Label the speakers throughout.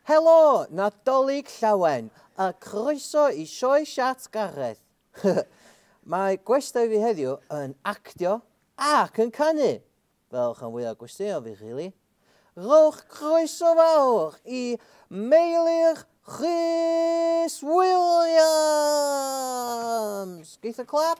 Speaker 1: Helo, Nadolig Llawen, a croeso i Sioe Siart Gareth. Mae gwestai i fi heddiw yn actio ac yn canu, fel rhan fwyaf gwesteion fi rili. Rhowch groeso fawr i Meilir Rhys Williams! Geith y clap?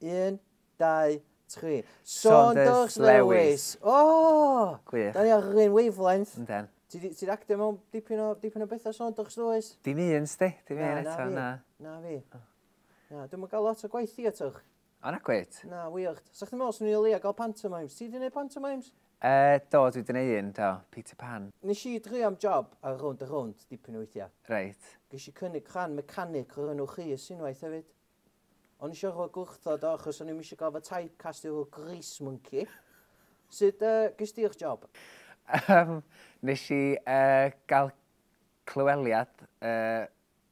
Speaker 1: 1, 2, 3. Saunders Lewis! O! Gwych. Da ni ar yr un wavelength. Yndan. Ti di, ti actio mewn dipyn o, dipyn o bethau Saunders Lewis? Dim un, sti. Dim un eto, na. Na fi. Na, dwi'n mynd gael lot o gwaith i atwch. O, na gwyt. Na, weird. Sa chdi'n meddwl swn i'n leia gael pantomimes? Ti di wneud pantomimes? E, do, dwi wedi gwneud un, do. Peter Pan. Nes i dri am job ar rownd a rownd dipyn o weithiau. Reit. Ges i cynnig rhan mecanic o'r enw Rhys unwaith hefyd. O'n i isio rhoi gwrthod o achos o'n i'm eisiau gorfod typecastio fel grease monkey. Sut uh, gys di'r job? Um, nes i uh, gael clyweliad uh,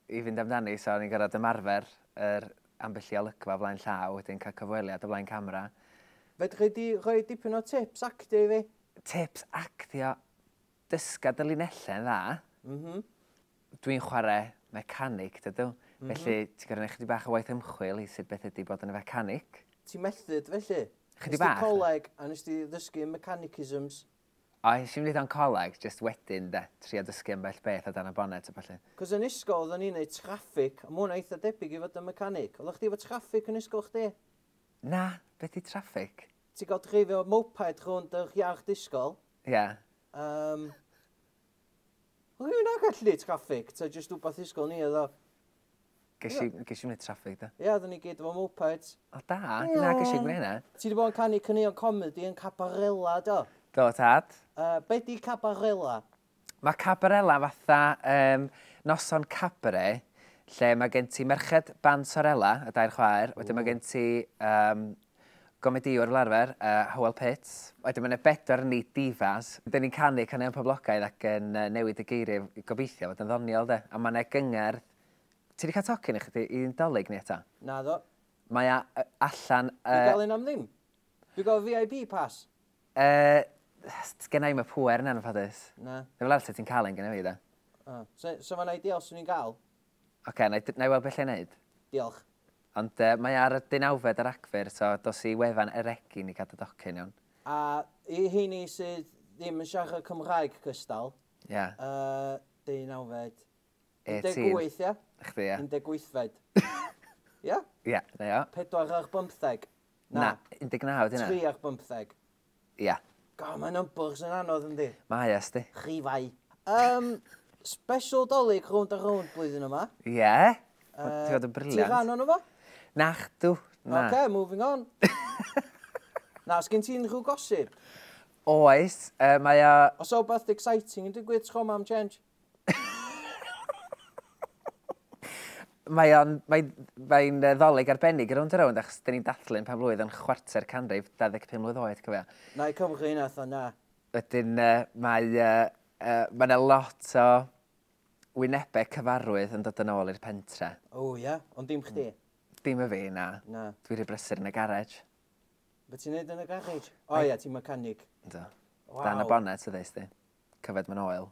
Speaker 1: i fynd amdani, so o'n i'n gorfod ymarfer yr ambell i olygfa flaen llaw, wedyn cael cyfweliad o flaen camera. Fedri di rhoi dipyn o tips actio i fi? Tips actio? dysga dy linellau yn dda. Mhm. Dwi'n chwarae mecanic, dydw. Mm -hmm. Felly, ti'n gorau gwneud chydig bach o waith ymchwil i sut beth ydy bod yn y fecanic. Ti'n methdyd, felly? Chydig bach. Nes coleg, a nes ti ddysgu mechanicisms? O, nes i'n wneud o'n coleg, just wedyn, de, tri o dysgu yn bell beth o dan y bonnet a falle. Cos yn ysgol, oedden ni'n neud traffic, a mwyn eitha debyg i fod yn mecanic. Oeddech chdi efo traffic yn ysgol chdi? Na, beth i traffic? Ti'n gael dreifio moped rhwnd yr iard ysgol? Ie. Um, Wel, dwi'n dda gallu traffig, ta jyst wbath ysgol ni oedd o. Ges i, ges i wneud traffig da. Ie, oedden ni gyd efo mopeds. O da, na ges i gwneud hynna. Ti wedi bod yn canu cynnion comedi yn Cabarella, do? Do, tad. Uh, be di Cabarella? Mae Cabarella fatha um, noson cabare, lle mae gen ti merched band Sorella, y dair chwaer, wedyn mae gen ti um, gomedïwr fel arfer, Hywel Pitts. Wedyn mae 'na bedwar o ni divas. Dan ni'n canu caneuon poblogaidd ac yn newid y geiriau i gobeithio fod yn ddoniol de. A mae 'na gyngerdd. Ti 'di cael tocyn i chdi i'n 'Dolig ni eto? Naddo. Mae a- y- allan... Yy... Dwi'n gael un am ddim. Dwi'n gael VIP pass. Yy, sgenna i'm y pŵer yna'n anffodus. Na. Neu fel arall 'set ti'n cael un gynna fi de. O. So, so mae'n ideal 'swn i'n gael? Ocê, 'na i d- 'na i weld be' alla i neud. Diolch. Ond yy mae ar y deunawfed o Ragfyr so dos i wefan Eregin i gadw docyn iawn. A i heini sydd ddim yn siarad Cymraeg cystal. Ia. Yy deunawfed. Yy ti. 18 ia? Chdi ia. 18fed. Ia? Ia, 'na ia. Pedwar ar bymtheg. Na. Na, 19 ydi hynna. Tri ar bymtheg. Ia. God, mae numbers yn anodd yndi? Mae e, sti. Rhifau. Um, special dolyg rownd a rownd blwyddyn yma. Ie. Yeah. Uh, Ti'n fod yn briliant. Ti'n rhan o'n fo? Nach dw. Na. OK, moving on. na, sgyn ti'n rhyw gosip? Oes, uh, mae o... Os o beth exciting yn digwydd tro mam change? mae o'n... mae... mae'n yy ddolig arbennig y rownd rownd achos dyn ni'n dathlu'n pen-blwydd yn chwarter canrif 25 mlwydd oed, cofia. Na, i cofwch hyn atho, na. Wedyn yy mae yy yy mae 'na lot o wynebau cyfarwydd yn dod yn ôl i'r pentre. O ia? Ond dim chdi? Dim y fi, na. Na. Dwi rhy brysur yn y garej. Be' ti'n neud yn y garej? O ia, ti'n mechanic. Yndw. Waw. Dan y bonnet ydw i, sdi. Cyfed man oil.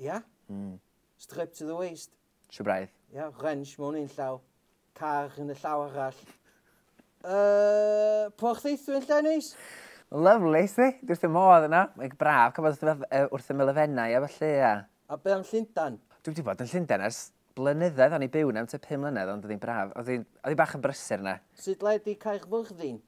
Speaker 1: Ia? Mm. Strip to the waist. Trwy braidd. Ia, wrench mewn un llaw, car yn y llaw arall. Uh, porth eithu yn lle neis? Lovely, si? Dwi wrth y modd yna. Mae'n braf, cael bod wrth y melefennau a felly, ia. A be am Llundan? Dwi wedi bod yn Llundan ers blynyddoedd, o'n i byw yna am te pum mlynedd, ond oedd hi'n braf. Oedd hi'n bach yn brysur yna. Sut le di Caerfyrddin?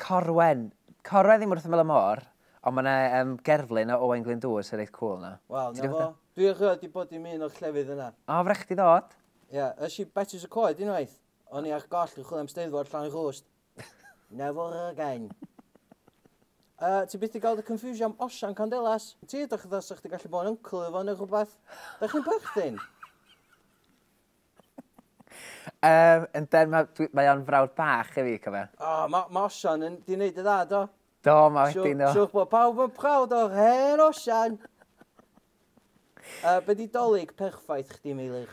Speaker 1: Corwen. Corwen ddim wrth ymyl y môr, ond mae 'na yym gerflun o Owain Glyndŵr sy'n reit cŵl 'na. Wel, 'na fo. Dwi erioed 'di bod i'm un o'r llefydd yna. O, fy' rai' chdi ddod. Ia, es i Betws y Coed unwaith. O'n i ar goll yn chwilio am Steddfod Llanrwst. Never again. Yy, ti byth 'di gweld y confusion am Osian Candelas? Ti edrych fatha 'sa chdi gallu bod yn uncle iddo fo ne' rwbath. Dach chi'n perthyn? um, yn ben, mae, mae o'n frawd bach i fi, cofio. O, oh, mae ma Osian yn di wneud y dda, do? Do, mae wedi no. Siwch bod pawb yn prawd o'r hen Osian. uh, be di dolyg perffaith chdi, Meilir?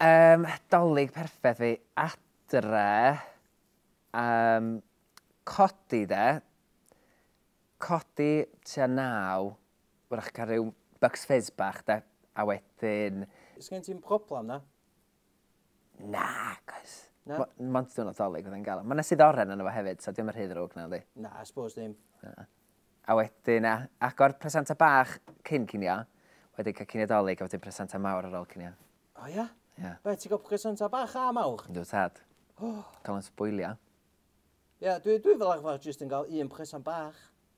Speaker 1: Um, dolyg perffaith fi, adre, um, codi de, codi tua naw, Wrach cael rhyw bucks fizz bach de, a wedyn... Oes gen ti'n problem na? Na, cos... Na? Mo- Mond diwrnod dolig oedd yn gael. Mae yna sydd oren yna fo hefyd, so dim yn rhy ddrwg na yndi. Na, I suppose ddim. Na. A wedyn a, agor presanta bach cyn cinio, wedyn cael cinio dolig a wedyn presanta mawr ar ôl cinio. O ia? Ia. Be, ti'n cael presenta bach a mawr? Yndw tad. Cael yn sboilio. Ia, dwi, dwi fel arfer jyst yn cael un presant bach.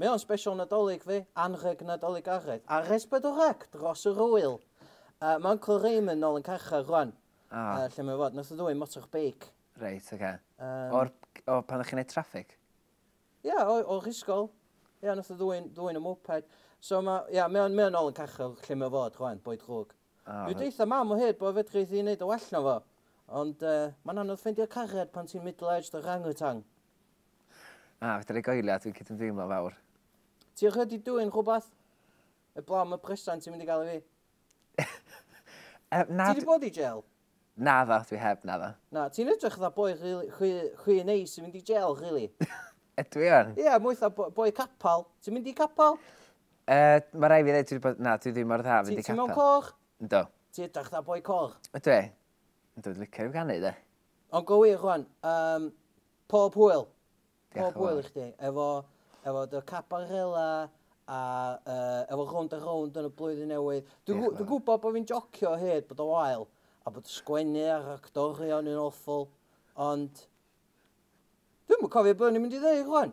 Speaker 1: Mae o'n special Nadolig fi, anrheg Nadolig Araidd, ar S4C dros yr ŵyl. Yy ma' Uncle Raymond nôl yn carchar rwan. O. Yy lle mae fod, nath o ddwyn motor beic. Reit oce. Yym. O'r o pan o'ch chi'n neud traffig? Ia o o rhisgol. Ia nath o ddwyn ddwyn y moped. So ma' ia mae o'n mae o'n nôl yn carchar lle mae fod rwan, boi drwg. O. Dwi deutha mam o hyd bo' fedrith hi neud yn well na fo. Ond yy ma'n anodd ffeindio cariad pan ti'n middle aged orangutan. Na, fedra i goelio, dwi'n cydymdeimlo fawr. Ti wedi dwyn rhywbeth? Eblaw am y presant ti'n mynd i gael i fi. um, na, ti wedi bod i jail? Na dda, dwi heb, na dda. Na, ti'n edrych dda boi rhi, rhi, rhi neis i mynd i jail, really. Ydw i o'n? Ie, yeah, mwy dda boi capal. Ti'n mynd i capal? Uh, mae rai fi ddweud, dwi wedi bod, na, dwi ddim mor dda fynd i capal. Ti'n mewn cor? Ynddo. Ti edrych dda boi cor? Ydw i? Dwi'n dod licio i'w ganu, de. Ond go wir, Juan, um, pob hwyl. Pob hwyl i chdi. Efo, efo dy cabarela, a uh, efo rownd a rownd yn y blwyddyn newydd. Dwi'n dwi, dwi gwybod bod fi'n jocio hyd bod o wael, a bod sgwennu ar actorion yn awful, ond... Dwi'n mwyn cofio bod ni'n mynd i ddweud, Juan.